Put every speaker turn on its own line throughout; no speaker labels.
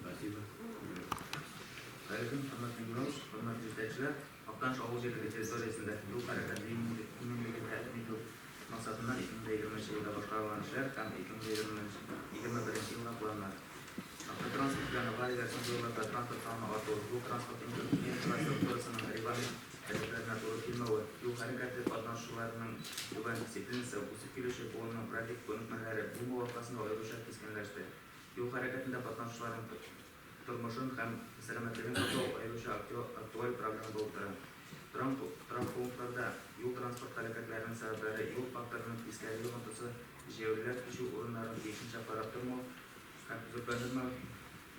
Спасибо. Хәерле Мөхәммәт Мингурович, хөрмәтле җитәкчеләр! Актаныш авыл җирлеге территориясендә юл хәрәкәте иминлеген тәэмин итү максатыннан 2020 елда башкарылган эшләр һәм 2020-2021 елга планнар. Автотранспорт белән аварияләр соңгы елларда транспорт санының артуы, юл транспорт инфраструктурасының регламент таләпләренә туры килмәве, юл хәрәкәте катнашучыларының түбән дисциплинасы, үсеп килүче буынның график күнекмәләре булмавы аркасында аеруча кискенләште. Юл хәрәкәтендә катнашучыларның тормышын һәм сәламәтлеген саклау аеруча актуаль проблема булып тора. Торам торак пунктларда юл-транспорт һәлакәтләренең сәбәпләре, юл факторының тискәре йогынтысы, җәяүлеләр кичү урыннарын тиешенчә карап тормау һәм төзекләндермәү,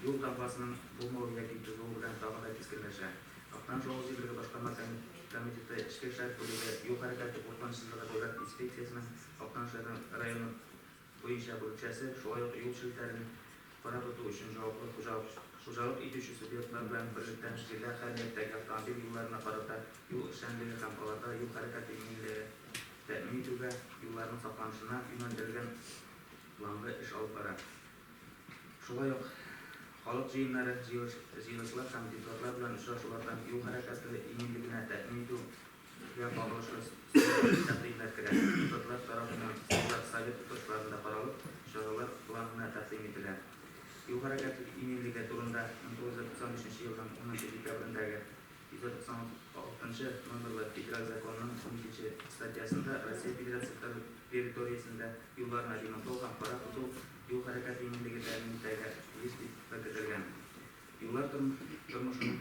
юл тамгасының булмавы яки тозуы белән тагы да кискенләшә. Актаныш авыл җирлеге башкарма комитеты эчке эшләр бүлеге юл хәрәкәте куркынычсызлыгы дәүләт инспекциясенең Актаныш районы буенча бүлекчәсе, шулай ук юл челтәрен кара тоту өчен җаваплы хуҗалык хуҗалык итүче субъектлар белән берлектән җирдә һәр ниятьтәге автомобиль юлларына карата юл эшчәнлеге һәм аларда юл хәрәкәте иминлеге тәэмин итүгә юлларның сакланышына юнәлдерелгән планлы эш алып бара. Шулай ук халык җыеннары, җыелышлар һәм депутатлар белән очрашуларда юл хәрәкәте иминлегенә тәэмин итү, Сезгә кагылышлы специаль тәкъдимнәр керә. Депутатлар тарафыннан Сәнгать советы тотышларында каралып, чаралар планына тәкъдим ителә. Юл хәрәкәте иминлеге турында 1993 елның 10 нчы декабрендәге 196 номерлы Федераль законның 12 нче статьясында Россия Федерациясе территориясендә юлларны ремонтлау һәм карап тоту юл хәрәкәте иминлеге тәэмин итәргә тиеш дип беркетелгән. Юллар тормышының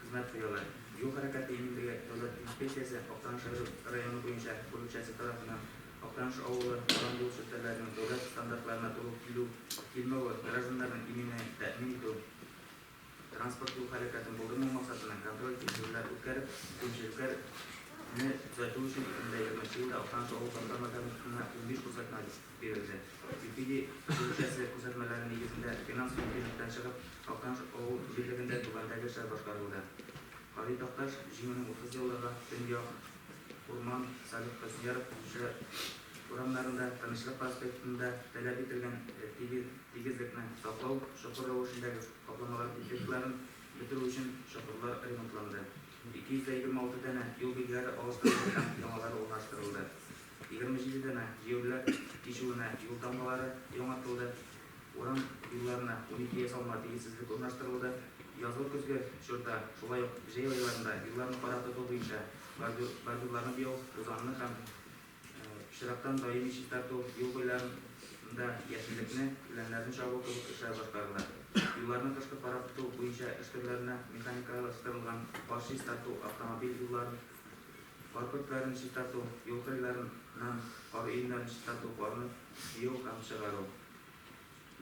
Хезмәт куялар. Юл хәрәкәте иминлеге дәүләт инспекциясе Актаныш районы буенча бүлекчәсе тарафыннан Актаныш авылы торган юл челтәрләренең дәүләт стандартларына туры килү, килмәве, гражданнарның иминлеген тәэмин итү, транспорт-юл хәрәкәтен булдырмау максатыннан контроль-тикшерүләр үткәреп, кимчелекләр не төзәтү өчен 2020 елда Актаныш авыл башкарма комитетына унбиш күрсәтмә бирелде. Юпиди үзешчәнлек күрсәтмәләре нигезендә финанс мөмкинлектән чыгып, Актаныш авыл җирлегендә түбәндәге эшләр башкарылды. Кави Такташ җиңүнең 30 еллыгы Төньяк Урман, Салих Хөсньяров җырчы урамнарында, Тынычлык проспектында таләп ителгән тигезлекне саклау, чокыр рәвешендәге капламалар дефектларын бетерү өчен чокырлар ремонтланды, 226 данә юл билгеләре алыштырылды һәм яңалары урнаштырылды. Егерме җиде данә җәяүлеләр кичүенә юл дамбалары яңартылды, урам юлларына унике ясалма тигезсезлек урнаштырылды. Язгы-көзге чорда, шулай ук җәй айларында юлларны кара тоту буенча бордюрларны буяу, тузанны һәм пычрактан даими чистарту, юл буйларында яшеллекне, үләннәрне чабу кебек эшләр башкарыла. Юлларны кышкы кара тоту буенча эш төрләренә механикалаштырылган кар чистарту, автомобиль юлларын, Карпык ләрен чистарту, юл кырыйларын нан, кар өемнәрен чистарту, карны җыю һәм чыгару.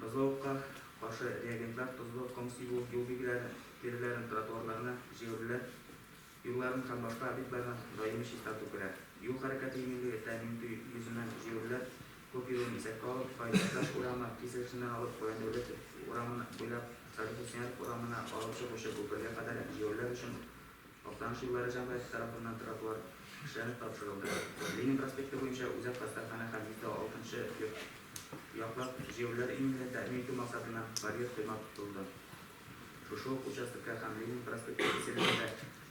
Бозлавыкка каршы реагентлар, тозлы ком сибү, юл билгеләрен, тиреләрен, тротуарларны, җәяүлеләр юлларын һәм башка объектларны даими чистарту керә. Юл хәрәкәте иминлеге тәэмин итү йөзеннән җәяүлеләр күп йөрүен исәпкә алып, Каенбаздаш урамы киселешеннән алып Гаяндәүләтов урамын буйлап Революционер урамына алып чыгучы күпергә кадәр җәяүлеләр өчен Актаныш юллары җәмгыяте тарафыннан тротуар эшләнеп тапшырылды. Ленин проспекты буенча Үзәк хастаханә һәм метро алтынчы йорт яклап җәяүлеләр иминлеген тәэмин итү максатыннан барьер койма тотылды. Шушы ук участокта һәм Ленин проспекты киселешендә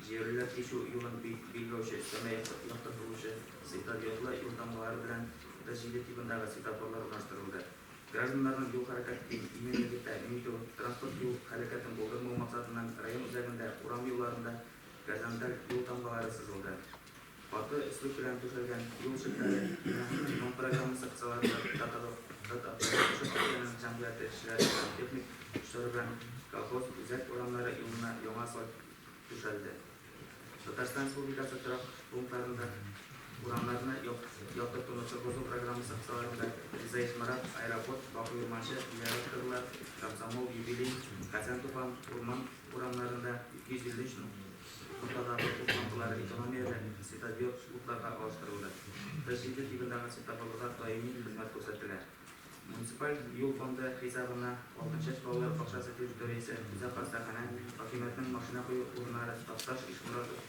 җәяүлеләр кичү юлын билгеләүче өстәмә яктыртылучы светодиодлы юлтамгалары белән 37 тибындагы светофорлар урнаштырылды. Гражданнарның юл хәрәкәтен иминлеге тәэмин итү, транспорт юл һәлакәтен булдырмау максатыннан район үзәгендә урам юлларында горизонталь юл тамгалары сызылды. Каты өслек белән түшәлгән юл челтәре һәм ремонт программасы кысаларында Татавто Татавтодорожник өлкәнең җәмгыять эшчеләре һәм техник көчләре белән колхоз үзәк урамнары юлына яңа асфальт түшәлде. Татарстан Республикасы торак пунктларында, урамнарны яктыртуны торгызу программасы кысаларында Ризаис Марат, Аэропорт, Баку Урманче, Зиярат Кырлы, Комсомол, Юбилей, Казан Тукан, Урман урамнарында 253 ноктадагы ут лампалары экономияле светодиод утларга алыштырылды. Президент тибындагы светофорларда даими хезмәт күрсәтелә. Муниципаль юл фонды хисабына Алтынчәч балалар бакчасы территориясе, Үзәк хастаханә, хакимиятнең машина кую урыннары, Такташ, Ишморатов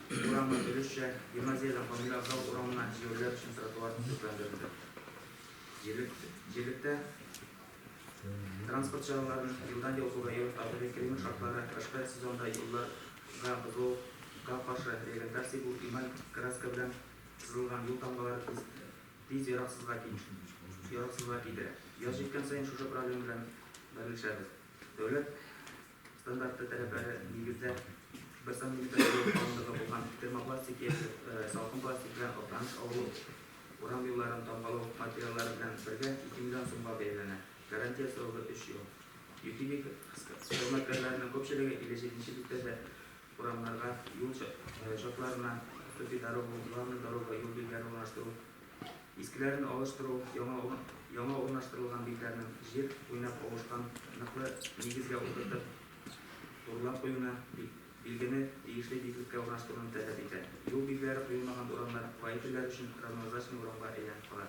урамы, өлешчә, гимназиядән Камил Абзал урамына җәяүлеләр өчен тротуар төзекләндерелде. Җирлектә транспорт чараларын елдан-ел зураю, табигый климат шартлары, кышкы сезонда юлларга бозылуга каршы регентация бу, эмаль краска белән сызылган юл тамгалары Тиз яраксызга килешми, шушы яраксызга китерә. Яз җиткән саен шушы проблема белән бәрелешәбез. Дәүләт стандарты таләпләре нигездә бер сантиметр җылы калынлыгы булган термопластик яки салкын пластик белән Актаныш авылы урам юлларын тамгалау материаллары белән бергә ике миллион сумга бәяләнә. Гарантия срогы өч ел. Ютилик хезмәткәрләренең күпчелеге 57 нче биттә дә Урамнарга, юл чатларына төпи дару, главный дорога, юл билгеләрен урнаштыру, искеләрен алыштыру, яңа урнаштырылган битләрнең җир уйнап авышкан ныклы нигезгә утыртып турлап куюны, билгене тиешле биеклеккә урнаштыруны таләп итә. Юл билгеләре куелмаган урамнар водительләр өчен равнозначный урамга әйләнеп кала.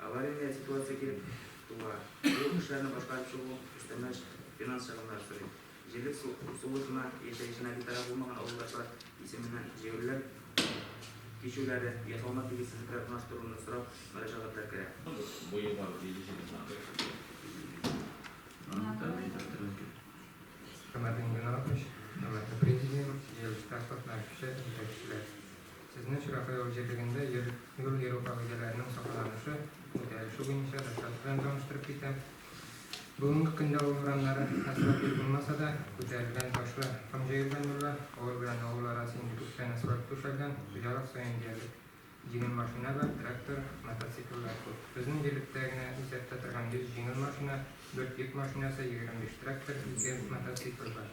Аварийный ситуация килеп туа. Бу эшләрне башкарып чыгу өстәмә финанс чыгымнары сорый. Җирлек сулышына яшәешенә битараф булмаган авылдашлар исеменнән җәяүлеләр кичүләре, ясалма тигезсезлекләр урнаштыруны сорап мөрәҗәгатьләр керә. Сезне Чиракаево җирлегендә йөр юл йөрү кагыйдәләренең сакланышы, үтәлеше буенча докладчы белән таныштырып китәм. Бүгенге көндә авыл урамнары асфальт юл булмаса да, күтәрелгән ташлы ком җәелгән юллар, авыл белән авыл арасы инде күптән асфальт түшәлгән, хуҗалык саен диярлек җиңел машина бар, трактор, мотоцикллар күп. Безнең җирлектә генә исәптә торган 100 җиңел машина, Дүрт йөк машинасы, егерме биш трактор, ике мотоцикл бар.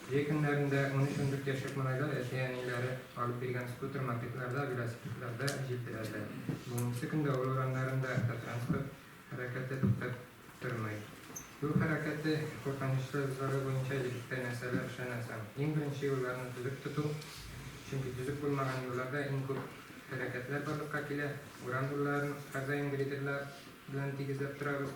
Җәй көннәрендә унөч ундүрт яшьлек малайлар әти-әниләре алып биргән скутер-мопедларда, велосипедларда җилпеләрдә. Бүгенгесе көндә авыл урамнарында автотранспорт хәрәкәте туктап тормый. Юл хәрәкәте куркынычсызлыгы буенча егеткә нәрсәләр эшләнә соң? Иң беренче юлларны төзек тоту, чөнки төзек булмаган юлларда иң күп һәлакәтләр барлыкка килә. Урам юлларын һәрдаим грейдерлар белән тигезләп торабыз.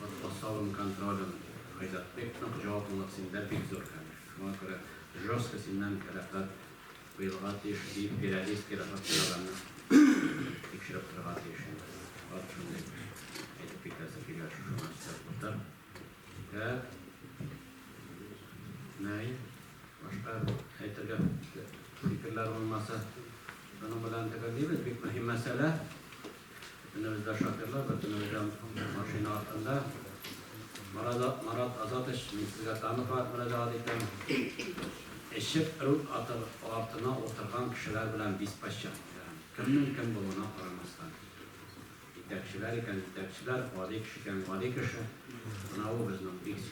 Матур салым контролен Айзат бик нык, җаваплылык синдә бик зур, конечно. Шуңа күрә жестко синнән рәхәт куелга тиеш, диеп Перовейский рәхәт куелганны тикшереп торырга тиеш инде. Бар шундый әйтеп китәсе килә, шушы гына өстәп утыр. Ә Наил, башка әйтергә фикерләр булмаса, шуның белән төгәллибез. Бик мөһим мәсьәлә. Көнебездә шоферлар бөтенләй дә онытылган машина артында. Марат Азатович, мин сезгә тагын бер мөрәҗәгать итәм. Эчеп руль артына утырган кешеләр белән беспощадно итәм. Кемнең кем булуына карамастан. Җитәкчеләр икән, җитәкчеләр, гади кеше икән, гади кеше. Менә ул безнең бик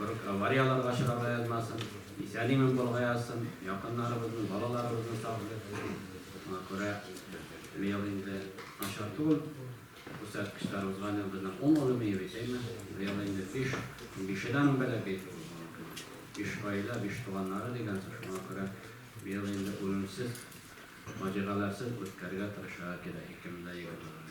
Барлык аварияларга очрарга язмасын, исән-имин булырга язсын, якыннарыбызны, балаларыбызны саклый. Шуңа күрә быел инде начар түгел күрсәткечләребезгә аны безнең ун улым ие бит, әйме? Быел инде биш, бише дә аның бәләкәй түгел балакай. Биш гаилә, биш туганнары дигән сүз. Шуңа күрә быел инде үлемсез, фаҗигаләрсез үткәрергә тырышырга кирәк, икемдә егет булгач.